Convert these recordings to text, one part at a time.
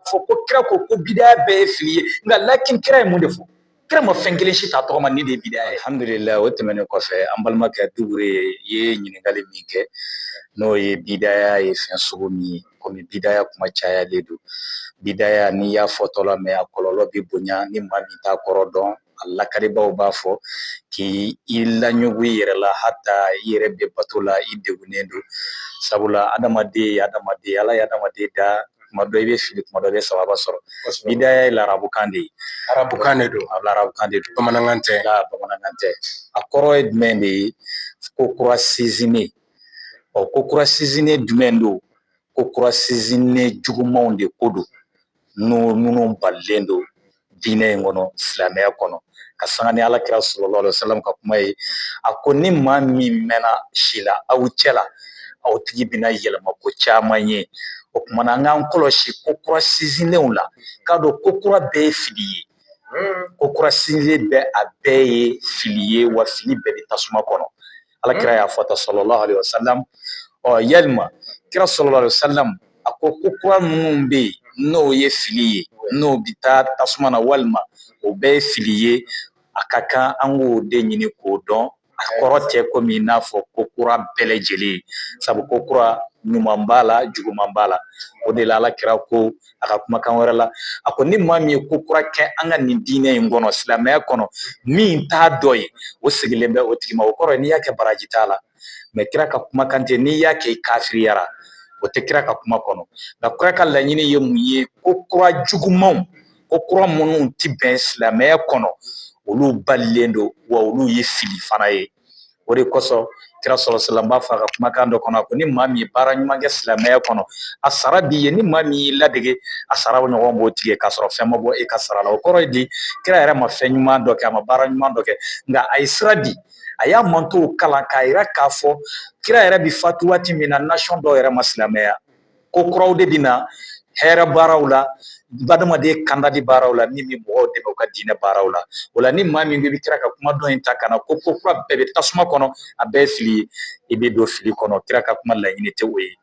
fɔ ko kira ko ko bidaya bɛɛ ye fili ye nka lakin kira ye mun de fɔ kira ma fɛn kelen si ta tɔgɔ ma nin de ye bidaya ye alhamdulilayi o tɛmɛnen kɔfɛ an balimakɛ dugure ye ɲininkali min kɛ n'o ye bidaya ye fɛn sugu min ye komi bidaya kuma cayalen don bidaya n'i y'a fɔtɔla mɛn a kɔlɔlɔ bɛ bonya ni maa min t'a kɔrɔ dɔn a lakalibaaw b'a fɔ k'i laɲugu i yɛrɛ la hata i yɛrɛ bɛ bato la i degunnen don sabula adamaden ye adamaden Ala ye adamaden da kuma dɔ i bɛ fili kuma dɔ i bɛ sawaba sɔrɔ bidaya ye larabukan de ye arabukan de don arabukan de don bamanankan tɛ bamanankan tɛ a kɔrɔ ye jumɛn de ye ko kura sinsinnen ɔ ko kura sinsinnen jumɛn don ko kura sinsinnen jugumanw de ko don n'o minnu balilen don diinɛ in kɔnɔ silamɛya kɔnɔ ka sanga ni ala kira sallallahu alaihi wasallam ka kuma ye a ko ni maa min mɛnna si la aw cɛ la aw tigi bɛna yɛlɛma ko caman ye o kuma na an k'an kɔlɔsi ko kura sinsinnenw la k'a dɔn ko kura bɛɛ ye fili ye ko kura sinsinnen bɛɛ a bɛɛ ye fili ye wa fili bɛɛ bɛ tasuma kɔnɔ ala kira y'a fɔ tan sallallahu alaihi wasallam ɔ yalima kira sallallahu alaihi wasallam a ko ko kura minnu bɛ yen n'o ye fili ye n'o bɛ taa tasuma na walima o bɛɛ ye fili ye a ka kan an k'o de ɲini k'o dɔn a kɔrɔ tɛ komi i n'a fɔ ko kura bɛɛ lajɛlen sabu ko kura ɲuman b'a la juguman b'a la o de la ala kira ko a ka kumakan wɛrɛ la a ko ni maa min ye ko kura kɛ an ka nin diinɛ in kɔnɔ silamɛya kɔnɔ min t'a dɔ ye o seginnen bɛ o tigi ma o kɔrɔ n'i y'a kɛ baraji t'a la mɛ kira ka kumakan tɛ n'i y'a kɛ i kafiriyara o tɛ kira ka kuma kɔnɔ nka kira ka laɲini ye mun ye ko kura jugumanw ko kura minnu tɛ bɛn silamɛya kɔnɔ olu balilen don wa olu ye fili fana ye o de kosɔn kira sallallahu alaihi wasallam b'a fɔ a ka kumakan dɔ kɔnɔ a ko ni maa min ye baara ɲuman kɛ silamɛya kɔnɔ a sara b'i ye ni maa min y'i ladege a sara ɲɔgɔn b'o tigi ye k'a sɔrɔ fɛn ma bɔ e ka sara la o kɔrɔ ye di kira yɛrɛ ma fɛn ɲuman dɔ kɛ a ma baara ɲuman dɔ kɛ nka a ye sira di a y'a mantɔn kalan k'a yira k'a fɔ kira yɛrɛ bi fatu waati min na nasiyɔn dɔw yɛrɛ ma silamɛya ko kuraw de bɛ na hɛrɛ baaraw la hadamaden kandali baaraw la min bɛ mɔgɔw dɛmɛ u ka diinɛ baaraw la o la ni maa min bɛ kira ka kuma dɔn in ta ka na ko ko kura bɛɛ bɛ tasuma kɔnɔ a bɛɛ fili ye i bɛ don fili kɔnɔ kira ka kuma laɲini tɛ o ye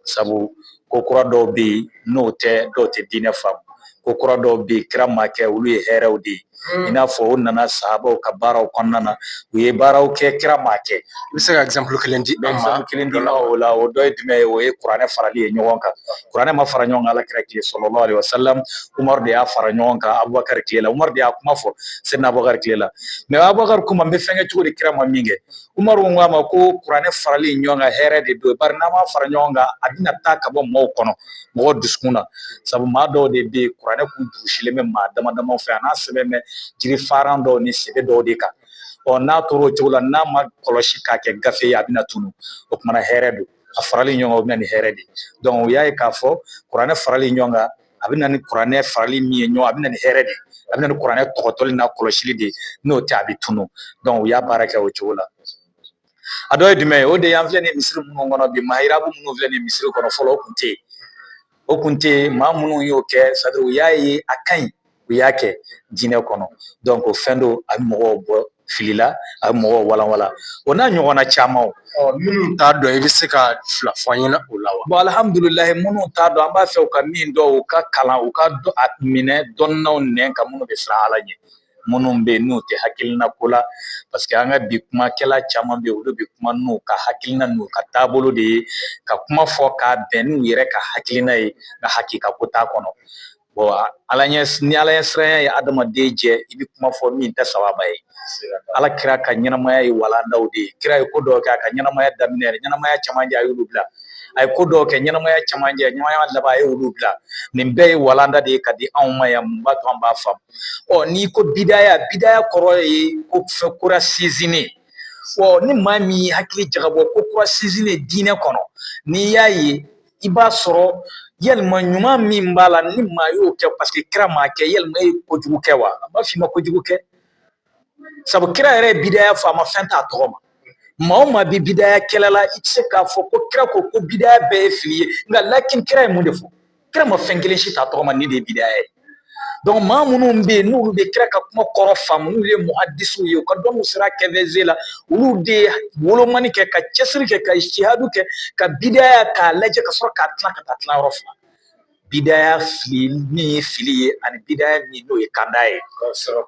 sabu ko kura dɔw bɛ yen n'o tɛ dɔw tɛ diinɛ faamu ko kura dɔw bɛ yen kira ma kɛ olu ye hɛrɛw de ye i n'a fɔ o nana sahabaw ka baaraw kɔnɔna na u ye baaraw kɛ kira ma kɛ i bɛ se ka exemple kelen di an ma kelen dɔ la o la o dɔ ye jumɛn ye o ye kuranɛ farali ye ɲɔgɔn kan kuranɛ ma fara ɲɔgɔn kan ala kira tile sallallahu alaihi wasallam umaru de y'a fara ɲɔgɔn kan abubakari tile la umaru de y'a kuma fɔ sɛyidina abubakari tile la mɛ abubakari k'o ma n bɛ fɛn kɛ cogo di kira ma min kɛ Umaru ko a ma ko kuranɛ farali ɲɔgɔn kan hɛrɛ de don bari n'an m'a fara ɲɔgɔn kan a bɛna taa ka bɔ mɔgɔw kɔnɔ mɔgɔ dusukun na sabu maa dɔw de bɛ yen kuranɛ kun durusilen bɛ maa dama dama fɛ a n'a sɛbɛn bɛ jiri faran dɔw ni sɛbɛ dɔw de kan ɔ n'a tora o cogo la n'a ma kɔlɔsi k'a kɛ gafe ye a bɛna tunu o kumana hɛrɛ don a farali ɲɔgɔn kan o bɛ na ni hɛrɛ de ye u y'a ye k'a fɔ kuranɛ farali ɲɔgɔn kan a bɛ na ni kuranɛ farali min ye ɲɔgɔn a bɛ na ni hɛrɛ de ye a bɛ na ni kuranɛ tɔgɔtɔli n'a kɔlɔsili de ye n'o tɛ a bɛ tunun dɔnku u y'a baara kɛ o cogo la a dɔ ye jumɛn ye o de ye an filɛ nin misiri minnu kɔnɔ bi mahirabu minnu filɛ nin misiri kɔnɔ fɔlɔ o kun tɛ yen o kun tɛ yen maa minnu y'o kɛ sɛtadiri u y'a ye a ka ɲi u y'a kɛ diinɛ kɔnɔ dɔnku o fɛn don a bɛ mɔgɔw bɔ fili la a bɛ mɔgɔw walanwalan o n'a ɲɔgɔnna caman minnu t'a dɔn i bɛ se ka fila fɔ an ɲɛna o la wa bon alhamdulilahi minnu t'a dɔn an b'a fɛ u ka min dɔn u ka kalan u ka a minɛ dɔnnaw nɛn kan minnu bɛ siran Ala ɲɛ minnu bɛ yen n'u tɛ hakilina ko la paseke an ka bi kumakɛla caman bɛ yen olu bɛ kuma n'u ka hakilina n'u ka taabolo de ye ka kuma fɔ k'a bɛn n'u yɛrɛ ka hakilina ye nka hakika ko t'a kɔnɔ bon ni ala ɲɛ siranya ye adamaden jɛ i bɛ kuma fɔ min tɛ sababa ye ala kira ka ɲɛnamaya ye walandaw de ye kira ye ko dɔw kɛ a ka ɲɛnamaya daminɛ yɛrɛ ɲɛnamaya camancɛ a y'olu bila a ye ko dɔw kɛ ɲɛnamaya camancɛ ɲɛnamaya laban a ye olu bila nin bɛɛ ye walanda de ye ka di anw ma ɲa min b'a to an b'a faamu ɔ n'i ko bidaya bidaya kɔrɔ ye ko fɛn kura sinsinnen ɔ ni maa min y'i hakili jagabɔ ko kura sinsinnen diinɛ kɔnɔ n'i y'a ye i b'a sɔrɔ yalima ɲuman min b'a la ni maa y'o kɛ paseke kira m'a kɛ yalima e ye kojugu kɛ wa an b'a f'i ma kojugu kɛ sabu kira yɛrɛ ye bidaya fɔ a ma fɛn t'a tɔgɔ ma maa o maa bɛ bidaya kɛlɛ la i tɛ se k'a fɔ ko kira ko ko bidaya bɛɛ ye fili ye nka lakin kira ye mun de fɔ kira ma fɛn kelen si t'a tɔgɔ ma nin de ye bidaya ye dɔnku maa minnu bɛ yen n'olu bɛ kira ka kuma kɔrɔ faamu n'u ye muhadisiw ye u ka dɔnni sira kɛfɛze la olu de ye wolomani kɛ ka cɛsiri kɛ ka ijtihadu kɛ ka bidaya k'a lajɛ ka sɔrɔ k'a tila ka taa tila yɔrɔ fila bidaya fili min ye fili ye ani bidaya min n'o ye kanda ye